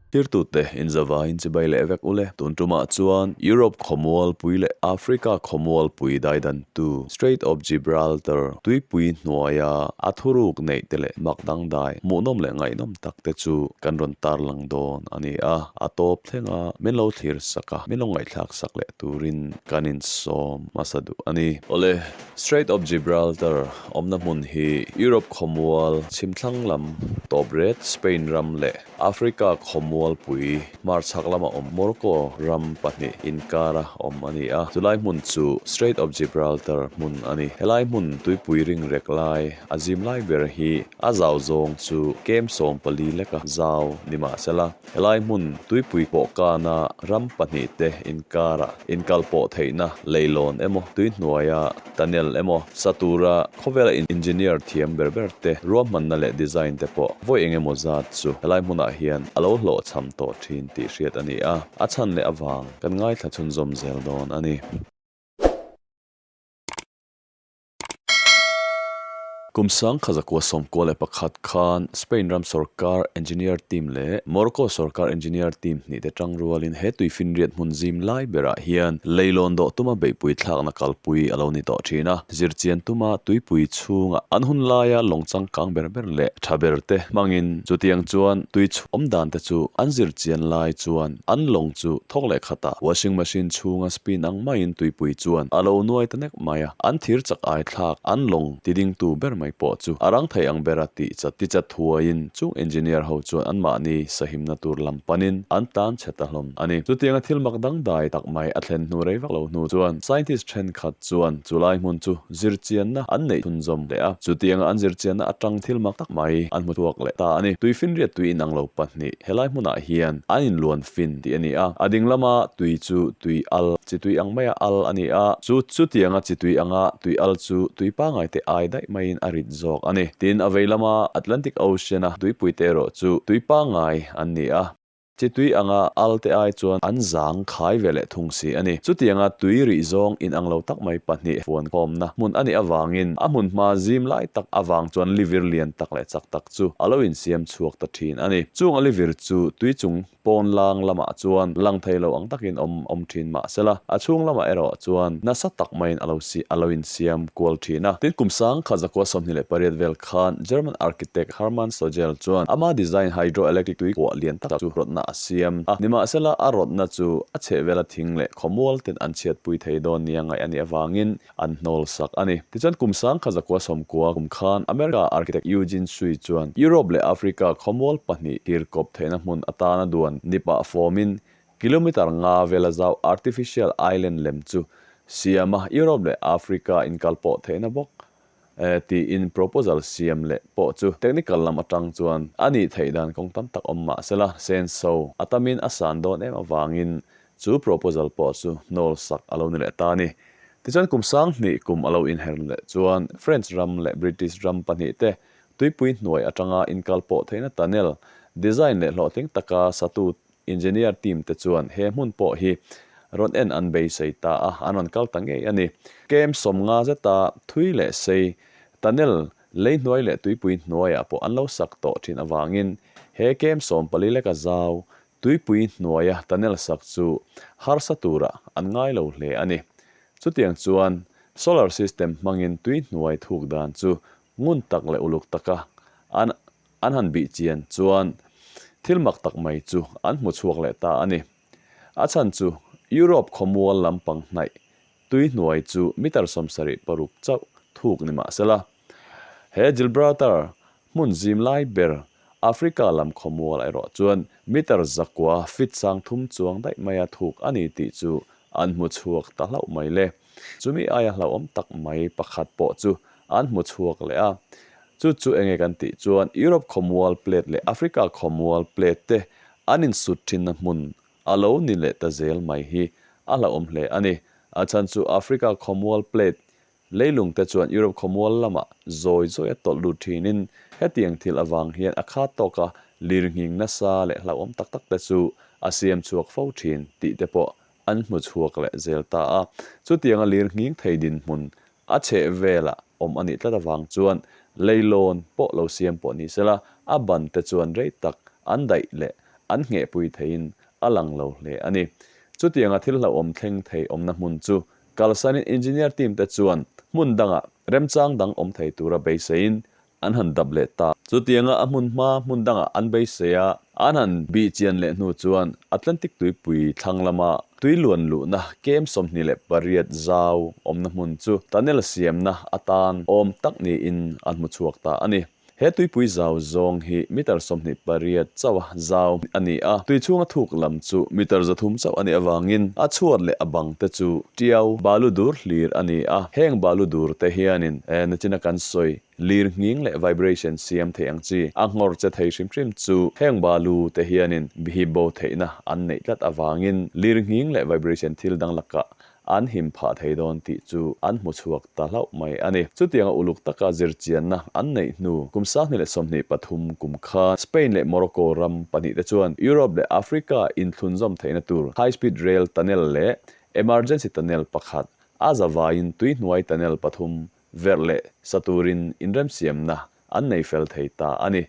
Thirtute, inzavain chibai leh vek u le. Tun tumah chuan Europe khawmualpui leh Africa khawmualpui daidantu Strait of Gibraltar tuipui hnuaia a thuruk neih te leh mak dangdai hmuhnawm leh ngaihnawm tak te chu kan rawn tarlang dawn a ni a. A tawp thlenga min lo thlir sak a, min lo ngaihthlak sak leh turin kan insawm hmasa duh a ni. Awle, Strait of Gibraltar awmna hmun hi Europe khawmual chhimthlang lam tawp ret Spain ram leh Africa khawmual pui hmarchhak lama awm Morocco ram pahnih inkara awm a ni a. Chulai hmun chu Strait of Gibraltar hmun a ni. Helai hmun tuipui ring rek lai a zim lai ber hi a zau zawng chu kem sawmpali leka zau ni mahsela, Helai hmun tuipui kawhkana ram pahnih te inkarah inkal pawh theihna leilawn emaw tuihnuaia tunnel emaw sa tura khawvela engineer thiam ber ber te ruahmanna leh design te pawh vawi eng emaw zat chu helai hmunah hian a lo hlawh chham tawh thin tih hriat a ni a, a chhan leh a vang kan ngaithla chhunzawm zel dawn a ni. Kum sangkhat zakua sawmkua leh pakhat khan Spain ram sorkar engineer team leh Morocco sorkar engineer team hnih te tang rualin he tui finriat hmun zim lai berah hian leilawn dawh tuma beihpui thlakna kalpui a lo ni tawh thin a. Zirchian tuma tuipui chhunga an hun laia lawng changkang ber ber leh tha ber te hmangin chutiang chuan tui chhung awm dan te chu an zirchian lai chuan an lawng chu thawk leh khatah washing machine chhunga spin ang maiin tuipui chuan a lo nuai ta nek rawk mai a, an thir chak aithlak, an lawng ti ding tu ber mai pawh chu a rang thei ang ber a tih chat ti chat thuaiin chung engineer ho chuan anmahni sahimna tur lam panin an tan chhe ta hlawm a ni. Chutianga thil mak dangdai tak mai a thlen hnu rei vak lo hnu chuan scientist thenkhat chuan chu lai hmun chu zir chianna an neih thun zawm leh a, chutianga an zir chianna atang thil mak tak mai an hmu chhuak leh ta a ni. Tui finriat tui inang lo pahnih he lai hmunah hian an inluan Fin tih a ni a. A ding lama tui chu tui al, chi tui ang maia al a ni a. Chu chutianga chi tui anga tui al chu tui pangai te ai daih maiin a rit zawk a ni. Tin, a vei lama Atlantic Ocean-a tuipui te erawh chu tui pangai an ni a. Chi tui anga al te ai chuan an zang khai ve leh thung si a ni. Chutianga tui rih zawng inang lo tak mai pahnih fuankhawmna hmun a nih avangin a hmunhma zim lai tak avang chuan livir lian tak leh chak tak, chu a lo insiam chhuak ta thin a ni. Chung a livir chu tui chung pawn lang lamah chuan lang thei lo ang takin awm awm thin mah sela, a chhung lamah erawh chuan nasa tak maiin a lo si a lo insiam kual thin a. Tin, kum sang kha Zakua sawmhnih leh pariat vel khan German architect Hermann Sogell chuan ama design hydroelectric tui kuah lian tak chu rawtna a siam a. Nimahsela, a rawtna chu a chhehvela thing leh khawmual ten an chhiatpui thei dawn nia ngaih a nih avangin an hnawl sak a ni. Tichuan kum sang kha zakua sawmkua kum khan America architect Eugene Sui chuan Europe leh Africa khawmual pahnih tir kawp theihna hmun atana duan nipa fawmin kilometre nga vela zau artificial island lem chu siam a, Europe leh Africa inkal pawh theihna bawk e tiin proposal siam leh pawh chu technical lam atang chuan a nih theih dan kawng tam tak awm mah sela senso a tamin a san dawn em avangin chu proposal pawh chu nawl sak a lo ni leh ta ni. Tichuan kum sanghnih kum a lo inher leh chuan French ram leh British ram pahnih te tuipui hnuai atanga inkal pawh theihna tunnel design leh hlawhtling taka satu Engineer team te chuan he hmun pawh hi rawn en an beisei ta a, an rawn kal ta ngei a ni. Km sawmnga zeta thui leh sei tunnel lei hnuai leh tuipui hnuaiah pawh an lo sak tawh thin avangin he km sawm pali leka zau tuipui hnuaia tunnel sak chu harsa tura an ngai lo hle a ni. Chutiang chuan solar system hmangin tui hnuai thuk dan chu ngun tak leh uluk taka an an han bih chian chuan thil mak tak mai chu an hmu chhuak leh ta a ni. A chhan chu Europe khawmual lampang hnaih tuihnuai chu mitar sawm sarih paruk chauh thuk ni mah sela, he Gilbraltar hmun zim lai ber Africa lam khawmual erawh chuan mitar zakua feet sangthum chuang daih maia thuk a ni tih chu an hmu chhuak ta hlauh mai leh. Chumi aia hlauhawm tak mai pakhat pawh chu an hmu chhuak leh a. Chu chu enge kan tih chuan Europe Khawmual Plate leh Africa Khawmual Plate te an insut thinna hmun a lo ni leh ta zel mai hi a hlauhawm hle a ni. A chhan chu Africa Khawmual Plate leilung te chuan Europe Khawmual lama zawi zawi a tawlh lut thinin hetiang thil avang hian a khat tawk a, lirnghing nasa leh hlauhawm tak tak te chu a siam chhuak fo thin tih te pawh an hmu chhuak leh zel ta a. Chutianga lir nghing thei dinhmun a chheh velah awm a nih tlat avang chuan leilawn pawh lo siam pawh ni sela, a ban te chuan rei tak an daih leh an nghehpui theiin a lang lo hle a ni. Chutianga thil hlauhawm thleng thei awmna hmun chu kalsanin engineer team te chuan hmun dangah remchang dang awm thei tura beiseiin an han dap leh ta. Chutianga a hmunhma hmun dangah an beisei a, an han bih chian leh hnu chuan Atlantic tuipui thlang lama tui luan luhna kem sawmhnih leh pariat zau awmna hmun chu tunnel siamna atan awm tak niin an hmu chhuak ta a ni. He tuipui zau zawng hi meter sawmhnih pariat chauha zau a ni a, tui chhunga thuk lam chu meter za thum chauh a nih avangin a chhuat leh a bang te chu Tiau, balu dur hlir a ni a, heng balu dur te hianin nachina kan sawi, lir nghing leh vibration siam theih ang chi, a nghawr che thei hrim hrim chu heng balu te hianin bihip bo theihna an neih tlat avangin lir nghing leh vibration thil dang lakah an him phah thei dawn tih chu an hmu chhuak ta hlauh mai a ni. Chutianga uluk taka zirchianna an neih hnu kum sanghnih leh sawmhnih pathum kum khan Spain leh Morocco ram pahnih te chuan Europe leh Africa inthlun zawm theihna tur high speed rail tunnel leh Emergency Tunnel pakhat, a za vaiin tui hnuai tunnel pathum verh leh sa turin inremsiamna an nei fel thei ta a ni.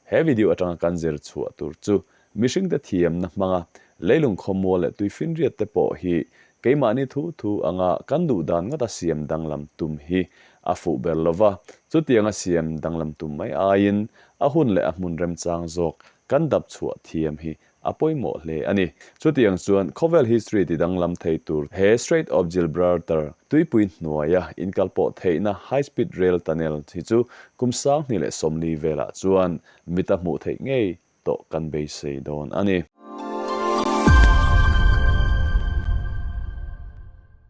He video atanga kan zir chhuah tur chu mihringte thiamna hmanga leilung khawmual leh tui finriat te pawh hi keimahni thu thu anga kan duh dan ngata siam danglam tum hi a fuh ber lo va, chutianga siam danglam tum mai aiin a hun leh a hmun remchang zawk kan dap chhuah thiam hi a pawimawh hle a ni. Chutiang chuan khawvel history ti danglam thei tur he Strait of Gilbraltar, Tuipui hnuaia inkal pawh theihna high speed rail tunnel, hi chu kum sangni leh sawmli velah chuan mit a hmuh theih ngei tawh kan beisei dawn a ni.